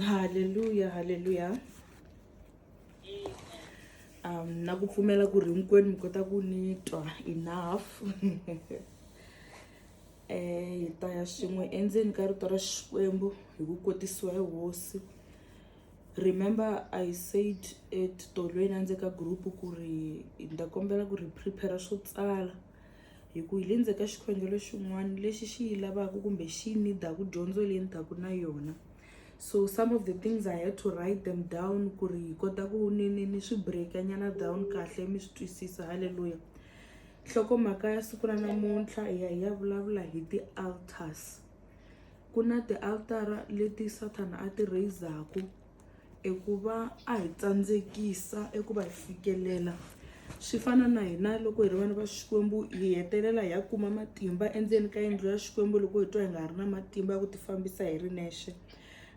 haleluya haleluya um na ku pfumela ku ri hinkwenu mi kota ku ni twa enough um hi ta ya swin'we endzeni ka rito ra xikwembu hi ku kotisiwa hi hosi remember i said etitolweni a ndzi ka group ku ri ni ta kombela ku ri prepare swo tsala hi ku hi le ndzhaku ka xikhongelo xin'wana lexi xi yi lavaka kumbe xi yi nidaku dyondzo leyi ni taku na yona so some of the things i had to write them down ku ri hi kota ku ni ni ni swi breaka nyana down kahle mi swi twisisa halleluya nhlokomhaka ya siku ra namuntlha hi ya hi ya vulavula hi ti-altars ku na ti-altara leti sathana a ti raizaku i ku va a hi tsandzekisa eku va hi fikelela swi fana na hina loko hi ri vana va xikwembu hi hetelela hi ya kuma matimba endzeni ka yindlu ya xikwembu loko hi twa hi nga ha ri na matimba ya ku tifambisa hi ri nexe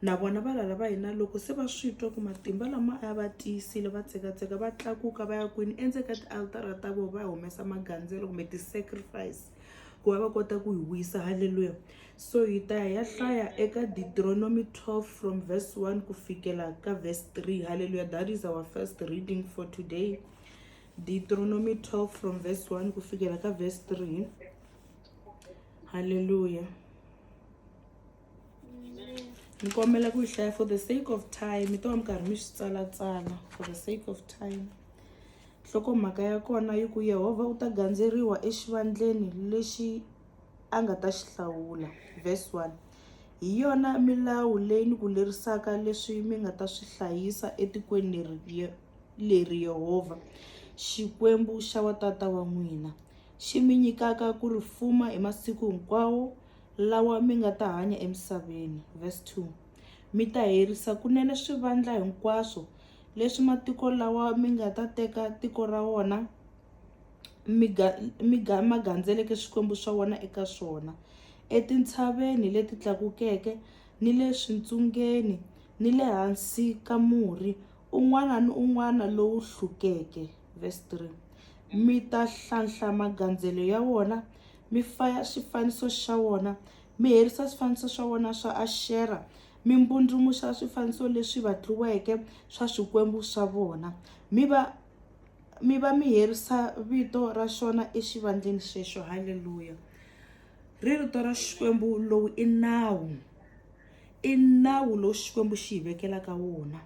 na vona valala va hina loko se va swi twa ku matimba lama a va tiyisile va tsekatseka va tlakuka va ya kwini endzeni ka tialitara ta vona va humesa magandzelo kumbe ti-sacrifice. ku va va kota ku hi wisa halleluya so hi ta ya ya hlaya eka deuteronomy 12 from verse 1 ku fikela ka verse 3 halleluya that is our first reading for today deuteronomy 12 from verse 1 ku fikela ka verse 3 halleluya ni kombela ku yi hlaya for the sake of time mi to va mi karhi mi swi tsalatsala for the sake of time nhlokomhaka ya kona yi ku yehovha u ta gandzeriwa exivandleni lexi a nga ta xi hlawula verse 1 hi yona milawu leyi ni ku lerisaka leswi mi nga ta swi hlayisa etikweni leri leri yehovha xikwembu xa watata wa n'wina xi mi nyikaka ku ri fuma hi masiku hinkwawo lawa mi nga ta hanya emisaveni. Verse 2 Mi ta herisa kunene swivandla hinkwaswo leswi matiko lawa mi nga ta teka tiko ra wona mi ga mi ga ma gandzeleke swikwembu swa wona eka swona etintshaveni leti tlakukeke ni le swintsungeni ni le hansi ka murhi un'wana ni un'wana lowu hlukeke. Verse 3 Mi ta hlanhla magandzelo ya wona mi faya swifaniso swa wona mi herisa swifaniso swa wona swa Ashera mi mbundrumuxa swifaniso leswi vatliweke swa swikwembu swa vona mi va mi va mi herisa vito ra xona exivandleni xexo halleluya ri rito ra xikwembu lowu i nawu i nawu lowu xikwembu xi hi vekelaka wona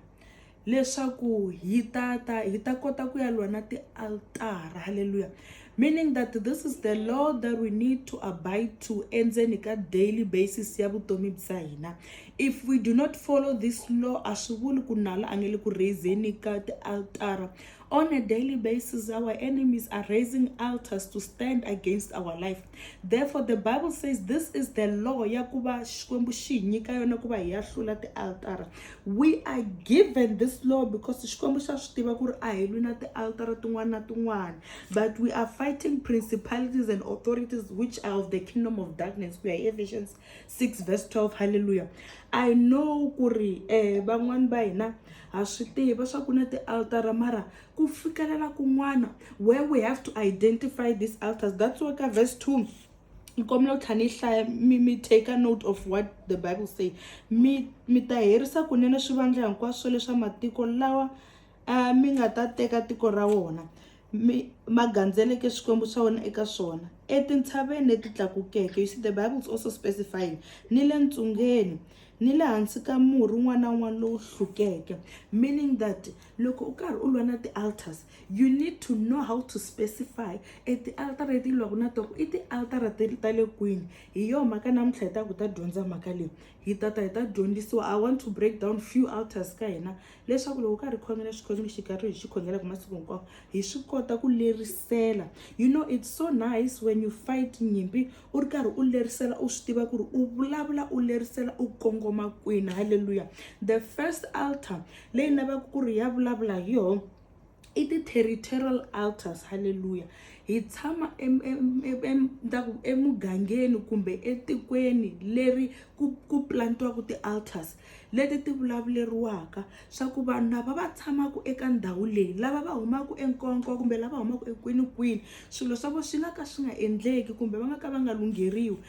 leswaku hi ta ta hi ta kota ku ya lwa na tialtara halleluya meaning that this is the law that we need to abide to endzeni ka daily basis ya vutomi bya hina if we do not follow this law a swi vuli ku nala a nge le ku raiseni ka tialtara On a daily basis, our enemies are raising altars to stand against our life. Therefore, the Bible says this is the law ya kuba xikwembu xi nyika yona kuba hi ya hlula tialtara. We are given this law because xikwembu xa swi tiva ku ri a hi lwi na tialtara tin'wana na tin'wana. But we are fighting principalities and authorities which are of the kingdom of darkness. We are Ephesians 6 verse 12 halleluya i know ku ri um van'wani va hina ha swi tiva swa ku na ti-altara mara ku fikelela kun'wana where we have to identify these altars that's why ka verse 2 ni kombela ku tlha ni hlaya mi mi take a note of what the bible say mi mi ta herisa kunene swivandla hinkwaswo leswa matiko lawa um mi nga ta teka tiko ra wona mi ma gandzeleke swikwembu swa wena eka swona etintshaveni leti tlakukeke you see the bible is also specifying ni le ntsungeni ni le hansi ka murhi un'wana na un'wana lowu hlukeke meaning that loko u karhi u lwa na ti-altars you need to know how to specify e ti-altar leti lwaku na toko i ti-altara ti ta le kwini hi yo mhaka namuntlha hi ta ku ta dyondza mhaka leyi hi tata hi ta dyondzisiwa i want to break down few altars ka hina leswaku loko karhi khongela xikhongelo xi karhi hi xi khongelaka masiku hinkwawo hi swi kota ku lerisela you know it's so nice when you fight nyimpi u ri karhi u lerisela u swi tiva ku ri u vulavula u lerisela u kongoma kwini halleluya the first altar leyi lavaka ku ri ya vulavula hi yona i ti-territorial alters halleluya hi tshama emugangeni kumbe etikweni leri ku ku plantiwaka ti-alters leti ti vulavuleriwaka swa ku vanhu lava va tshamaka eka ndhawu leyi lava va humaka enkonko kumbe lava humaka ekwinikwini swilo swa vona swi nga ka swi nga endleki kumbe va nga ka va nga lungheriwi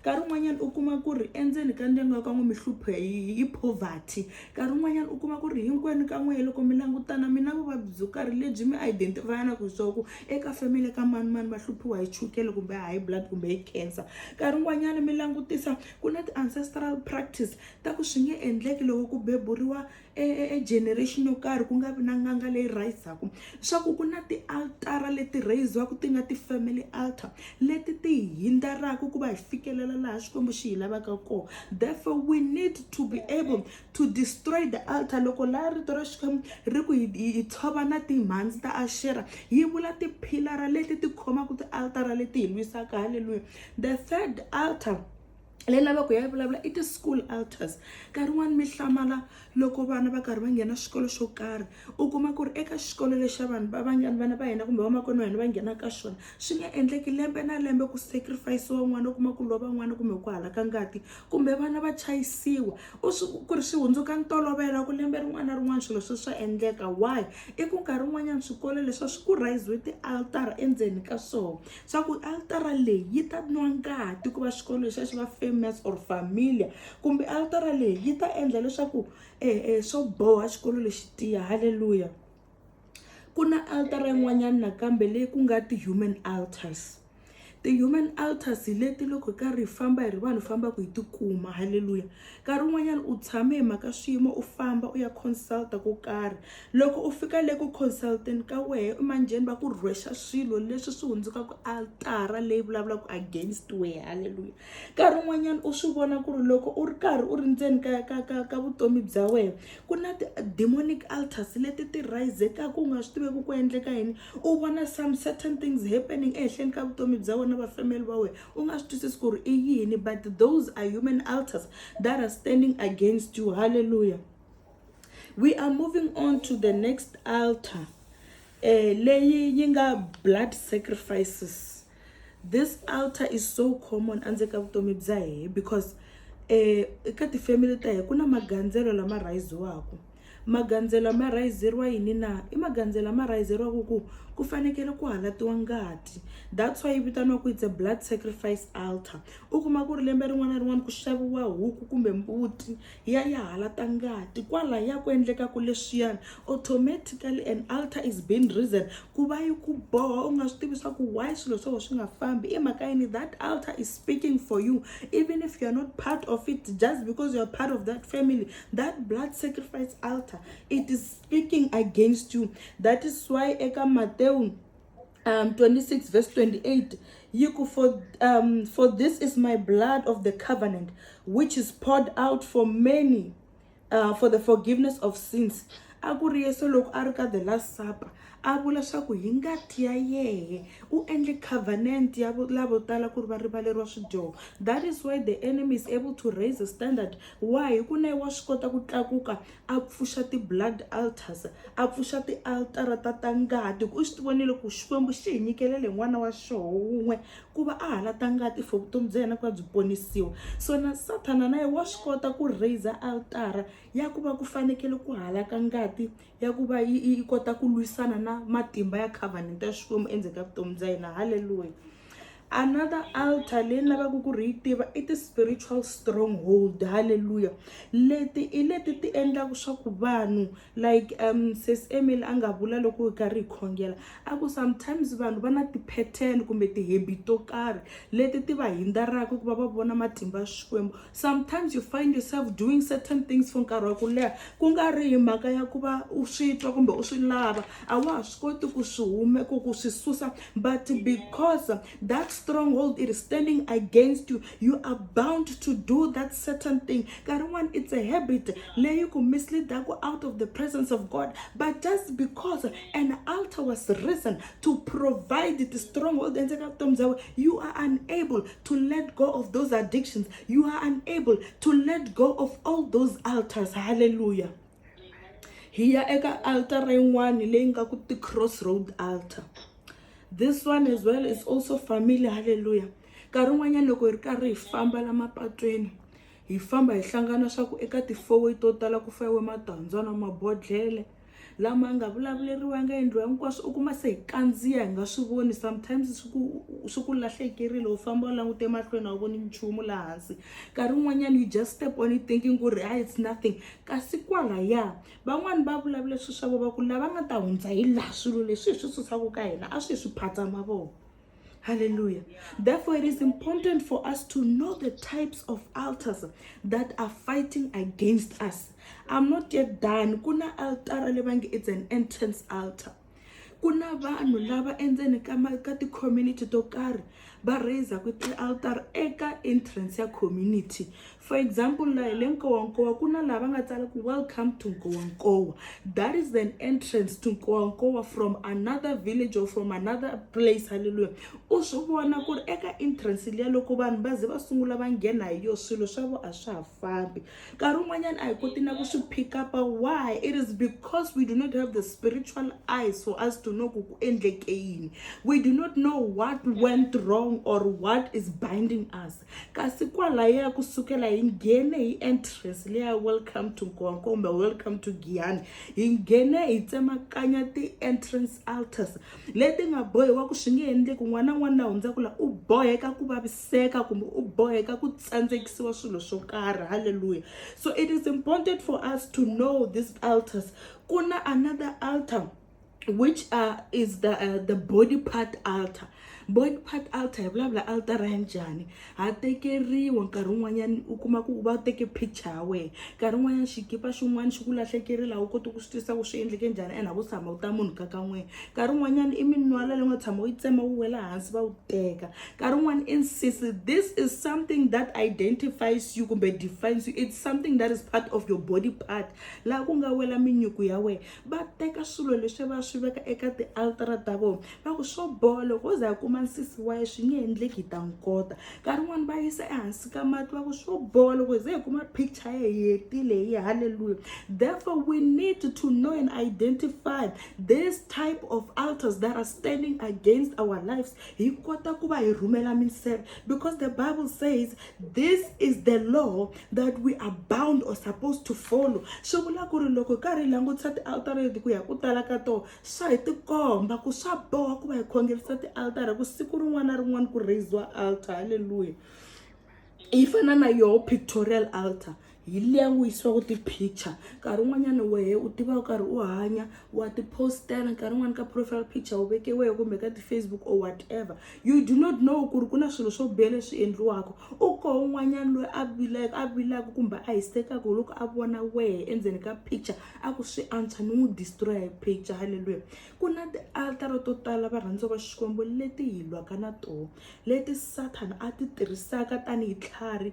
nkarhi wun'wanyana u kuma ku ri endzeni ka ndyangu wa ka n'we mi hlupho hi poverty nkarhi wun'wanyana u kuma ku ri hinkwenu ka n'we loko mi langutana mi na vuvabyi byo karhi lebyi mi identify-anaka hi swaku eka family ka manimani va hluphiwa hi chukele kumbe high blood kumbe hi cancer nkarhi wun'wanyana mi langutisa ku na ti-ancestral practice ta ku swi nge endleki loko ku beburiwa e generation yo karhi ku nga vi na n'anga leyi rhayisaku swa ku ku na tialtara leti rhayiziwaka ti nga ti-family altar leti ti hi hindaraka ku va hi fikelela laha xikwembu xi hi lavaka kona therefore we need to be able to destroy the altar loko laha rito ra xikwembu ri ku hi tshova na timhandzi ta ashera yi vula tiphilara leti ti khomaka tialtara leti hi lwisaka halleluya the third altar leyi lavaka ya vulavula i ti-school alters nkarhi wun'wani mi hlamala loko vana va karhi va nghena xikolo xo karhi u kuma ku ri eka xikolo lexa vanhu va vangani vana va hina kumbe vamakwerhu wa hina va nghena ka xona swi nga endleki lembe na lembe ku sacrifice-iwa n'wana u kuma ku lova n'wana kumbe ku halaka ngati kumbe vana va chayisiwa u swi ku ri swi hundzuka ntolovelo ku lembe rin'wana na rin'wana swilo swi swa endleka why i ku nkarhi wun'wanyana swikolo leswi a swi ku rhayisiwe ti-altara endzeni ka swona swa ku altara leyi yi ta nwa ngati ku va xikolo lexiya xi va famous or familia kumbe altara leyi yi ta endla leswaku eh, eh, swo boha xikolo lexi tiya halleluya ku na altara yin'wanyana nakambe leyi ku nga ti-human altars ti-human altars hi leti loko karhi hi famba hi ri vanhu fambaka hi tikuma halleluya nkarhi wun'wanyana u tshame hi mhaka swiyimo u famba u ya consulta ko karhi Loko u fika le ku consultant ka wehe i manjheni va ku rhwexa swilo leswi swi hundzukaka altara leyi vulavulaka against wehe halleluya nkarhi wun'wanyana u swi vona ku ri loko u ri karhi u ri ndzeni ka ka ka ka vutomi bya wehe ku na ti-demonic altars leti ti rhayizekaka u nga swi tiveki ku endleka yini u vona some certain things happening ehenhleni ka vutomi bya wena va family va wehe u nga swi twisisi ku ri i yini but those are human altars that are standing against you halleluya we are moving on to the next altar eh, leyi yi nga blood sacrifices this altar is so common endzeni ka vutomi bya hehe because eh, eka tifamily ta hehe ku na magandzelo lama rhayiziwaka magandzelo ma rhayizeriwa yini na i magandzelo lama rhayizeriwaka ku ku fanekele ku halatiwa ngati that's why yi vitaniwa ku it's a blood sacrifice altar u kuma ku ri lembe rin'wana na rin'wana ku xaviwa huku kumbe mbuti ya ya hala ta ngati kwala ya ku endlekaku leswiyani automatically an alter is being reason ku va yi ku boha u nga swi tivi swa ku why swilo swo swi nga fambi i mhaka yini that alter is speaking for you even if you're not part of it just because you're part of that family that blood sacrifice alter it is speaking against you that is why eka matewu um, 26 verse 28 yiku for, um, for this is my blood of the covenant which is poured out for many uh, for the forgiveness of sins a ku ri yesu loko a ri ka the last supper a vula swaku hi ngati ya yehe u endle covenant ya lavo tala ku ri va rivaleriwa swidyoho that is why the enemy is able to raise a standard why hi ku na wa swi kota ku tlakuka a pfuxa ti-blood altars a pfuxa tialtara ta ta ngati ku u swi ti vonile ku xikwembu xi hi nyikelele n'wana wa xoho wun'we ku va a hala ta ngati for vutomi bya yena ku va byi ponisiwa so na sathana na ye wa swi kota ku raiser altara ya ku va ku fanekele ku halaka ngati ya ku va yi kota ku lwisana na matimba ya covenant ya xikwembu endzeni ka vutomi bya yena halleluya another alter leyi ni lavaka ku ri yi tiva i ti-spiritual stronghold halleluya leti i leti ti endlaka swa ku vanhu like um ses emil a nga vula loko hi karhi hi khongela a ku sometimes vanhu va na ti-pattern kumbe ti-habit to karhi leti ti va hindza raka ku va va vona matimba ya xikwembu sometimes you find yourself doing certain things for nkarhi wa ku leha ku nga ri hi mhaka ya ku va u swi twa kumbe u swi lava a wa ha swi koti ku swi hume ku ku swi susa but because that stronghold is standing against you you are bound to do that certain thing nkarhi wun'wana it's a habit leyi ku misleadaku out of the presence of god but just because an altar was risen to provide the stronghold and you are unable to let go of those addictions you are unable to let go of all those altars hallelujah hi ya eka altara yin'wani leyi nga ku ti-crossroad altar this one as well is also family halleluya nkarhi wun'wanyana loko hi ri karhi hi famba la mapatwini hi famba hi hlangana swa ku eka ti-fourway to tala ku fayiwe matandzana mabodhlele lama nga vulavuleriwanga endliwa hinkwaswo u kuma se hi kandziya hi nga swi voni sometimes swi ku swi ku lahlekerile u famba u langute emahlweni a wu voni nchumu laha hansi nkarhi wun'wanyana you just step on it thinking ku ri hi it's nothing kasi kwalaya van'wani va vulavula swilo swa vo va ku lava nga ta hundza hi laha swilo leswi hi swi susaka ka hina a swi hi swi phatsa mavoko Hallelujah. Therefore, it is important for us to know the types of altars that are fighting against us. I'm not yet done. Kuna altar lebangi it's an entrance altar. Kuna vanhu lava endzeni ka ka ti community to karhi va raiser ku ti altar eka entrance ya community For example, laha le Nkowankowa ku na laha va nga tsala ku welcome to Nkowankowa. That is an entrance to Nkowankowa from another village or from another place, hallelujah. U swi vona ku ri eka entrance liya loko vanhu va ze va sungula va nghena hi yo swilo swa vo a swa ha fambi. Nkarhi wun'wanyana a hi koti na ku swi pick up why it is because we do not have the spiritual eyes for us to know ku ku endleke yini. We do not know what went wrong or what is binding us. kasi kwalaya kusukela hi nghene hi entrance leya welcome to nkowa kumbe welcome to giyani hi nghene hi tsemakanya ti-entrance altars leti nga bohiwa ku swi nge endleki n'wana n'wana na hundza ku la u boheka ku vaviseka kumbe u boheka ku tsandzekisiwa swilo swo karhi halleluya so it is important for us to know these altars ku na another altar which uh, is the uh, the body part altar body part altar hi vulavula altara ya njhani ha tekeriwa nkarhi wun'wanyana u kuma ku va teke picture ya wena nkarhi wun'wanyana xikipa xin'wana xi ku lahlekeri laha u koti ku swi twisa ku swi endleke njhani and ha ku tshama u ta munhu ka kan'wena nkarhi wun'wanyana i minwala leyi nga tshama u yi tsema wu wela hansi va wu teka nkarhi wun'wana insist this is something that identifies you kumbe defines you it's something that is part of your body part laha ku nga wela minyuku ya wena va teka swilo leswi va swi veka eka tialtara ta vona va ku swo boha loko wo za yi kuma nsisi wa ye swi nge endleki hi ta n'wi kota nkarhi wun'wani va yisa ehansi ka mati va ku swo boha loko hi ze hi kuma picture ye hi hetile hi halleluya therefore we need to know and identify this type of altars that are standing against our lives hi kota ku va hi rhumela minseve because the bible says this is the law that we are bound or supposed to follow swi vula ku ri loko hi karhi hi langutisa tialtara leti ku ya ku tala ka tona swa hi tikomba ku swa boha ku va hi khongerisa tialtara ku siku rin'wana na rin'wana ku raiziwa altar halleluya yi fana na yoho pictorial altar hi liya n'wi yisiwaka ti-picture nkarhi wun'wanyana wehe u tiva u karhi u hanya wa ti-postela nkarhi wun'wani ka profile picture u veke wehe kumbe ka ti-facebook or whatever you do not know ku ri ku na swilo swo biha leswi endliwaka u koho un'wanyana loyi a vilaka a vilaka kumbe a hisekaka hi loko a vona wehe endzeni ka picture a ku swi antswa ni n'wi destroya hi picture halleluya ku na ti-altara to tala varhandza va xikwembu leti hi lwaka na toho leti sathana a ti tirhisaka tanihi tlhari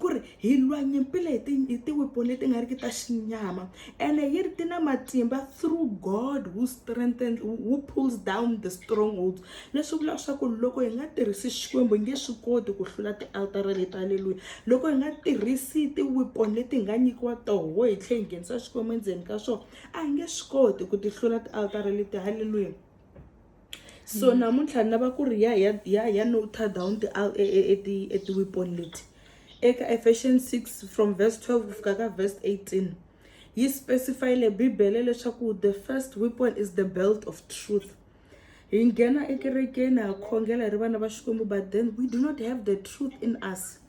ku ri hi lwa nyimpi leyi hi tiwepo leti nga ri ki ta xinyama ene yi ri ti na matimba through god who strengthen who pulls down the strongholds leswi vulaka swa ku loko hi nga tirhisi xikwembu hi nge swi koti ku hlula tialtara leti aleluya loko hi nga tirhisi tiwepo leti hi nga nyikiwa toho hi tlhela hi nghenisa xikwembu endzeni ka swona a hi nge swi koti ku ti hlula tialtara leti haleluya so mm. namuntlha ni lava ku ri ya ya ya ya noter down ti e, e, e, ti e ti weapon leti eka efession 6 from verse 12 ku fika ka verse 18 yi specifyile bibele leswaku the first weapon is the belt of truth hi nghena ekerekeni ha khongela hi ri vana va xikwembu but then we do not have the truth in us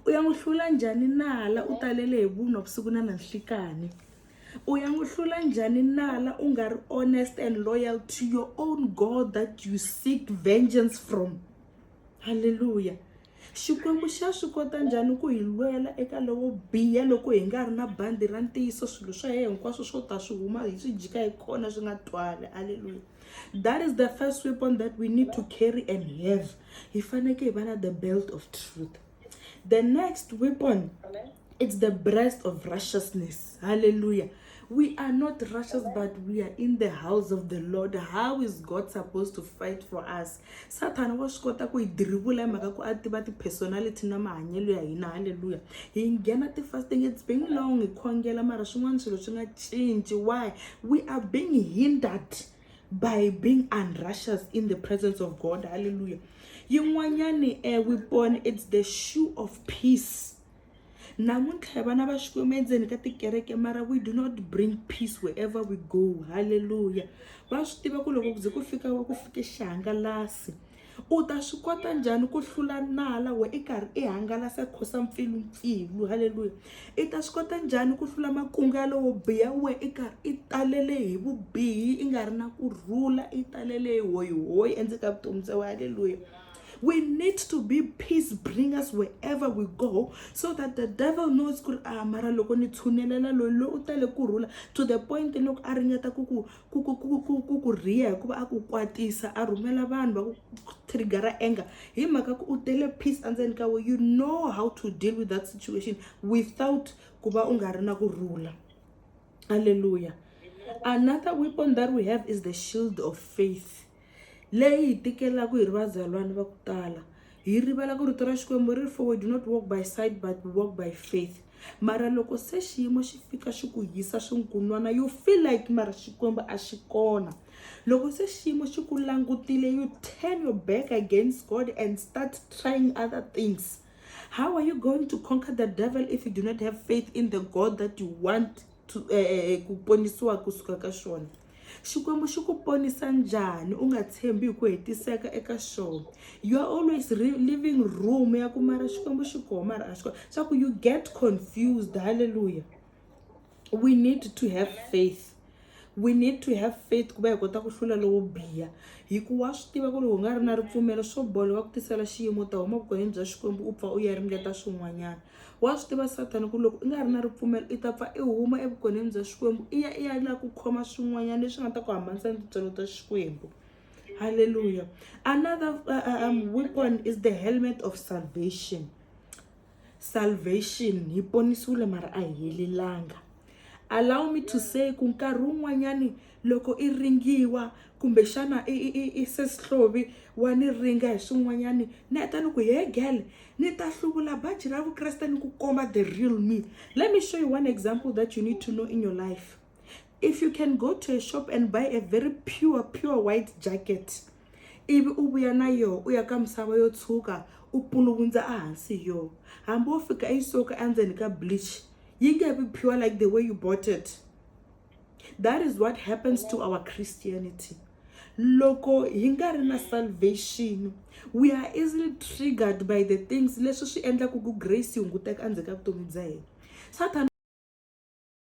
u ya n'wi hlula njhani nala u talele hi vunwa vusiku na nanhlikani U ya n'wi hlula njhani nala u nga ri honest and loyal to your own God that you seek vengeance from? Hallelujah! Xikwembu xa swi kota njhani ku hi lwela eka lowo biha loko hi nga ri na bandi ra ntiyiso swilo swa yena hinkwaswo swo ta swi huma hi swi jika hi kona swi nga twali. Hallelujah! That is the first weapon that we need to carry and have. Hi fanekele hi va na the belt of truth. the next weapon it's the breast of righteousness hallelujah we are not righteous but we are in the house of the lord how is god supposed to fight for us satan wa swi kota ku hi dirivula hi mhaka ku a tiva ti-personality na mahanyelo ya hina halleluya hi nghena ti-fasting it's being long hi khongela mara swin'wana swilo swi nga cinci why we are being hindered by being unrighteous in the presence of god hallelujah yin'wanyani a eh, weapon it's the shoe of peace namuntlha vana va xikwembu endzeni ka tikereke mara we do not bring peace wherever we go halleluya va swi tiva ku loko ku ze ku fika ku fike xihangalasi u ta swi kota njhani ku hlula nala we i karhi i hangalasa khosa mpfilumpfilu halleluya i ta swi kota njhani ku hlula makungu ya lowo biha we i karhi i talele hi vubihi i nga ri na ku rhula i talele hi hoyihoyi endzeni ka vutomi bya we halleluya we need to be peace bringers wherever we go so that the devil knows ku ri a mara loko ni tshunelela loyi loyi u tale ku rhula to the point loko a ringeta ku ku ku ku ku ku ku ku riya hikuva a ku kwatisa a rhumela vanhu va ku trigger anger hi mhaka ku u tele peace endzeni ka we you know how to deal with that situation without ku va u nga ri na ku rhula halleluya another weapon that we have is the shield of faith leyi hi tikelaka hi ri vazalwana va ku tala hi rivala ku rito ra xikwembu ri ri for we do not walk by sight but we walk by faith mara loko se xiyimo xi fika xi ku hisa swinkunwana you feel like mara xikwembu a xi kona loko se xiyimo xi ku langutile you turn your back against god and start trying other things how are you going to conquer the devil if you do not have faith in the god that you want to uh, ku ponisiwa kusuka ka xona xikwembu xi ku ponisa njhani u nga tshembi hi ku hetiseka eka xona you are always living room ya ku mara xikwembu xi koho mara a xi koho swa ku you get confused halleluya we need to have faith we need to have faith ku va hi kota ku hlula lowo biha hi ku wa swi tiva ku ri u nga ri na ripfumelo swo bola va ku tisela xiyimo u ta huma vukon'wini bya xikwembu u pfa u ya ringeta swin'wanyana wa swi tiva sathana ku loko i nga ri na ripfumelo i ta pfa i huma evukoneni bya xikwembu i ya i ya lava ku khoma swin'wanyana leswi nga ta ku hambanisa ni tintswalo ta xikwembu halleluya another uh, um, weapon is the helmet of salvation salvation hi ponisiwile mara a hi helelanga allow me to say ku nkarhi wun'wanyani loko i ringiwa kumbe xana i i i sesihlovi wa ni ringa hi swin'wanyani ni heta ni ku he girl ni ta hluvula baji ra vukreste ni ku komba the real me let me show you one example that you need to know in your life if you can go to a shop and buy a very pure pure white jacket ivi u vuya na yoho u ya ka misava yo tshuka u puluvundza ehansi hi yoho hambi wo fika yi soka endzeni ka bleach yi nge vi pure like the way you bought it that is what happens to our christianity loko hi nga ri na salvation we are easily triggered by the things leswi swi endlaku ku grace yi hunguteka endzhaku ka vutomi bya hina satan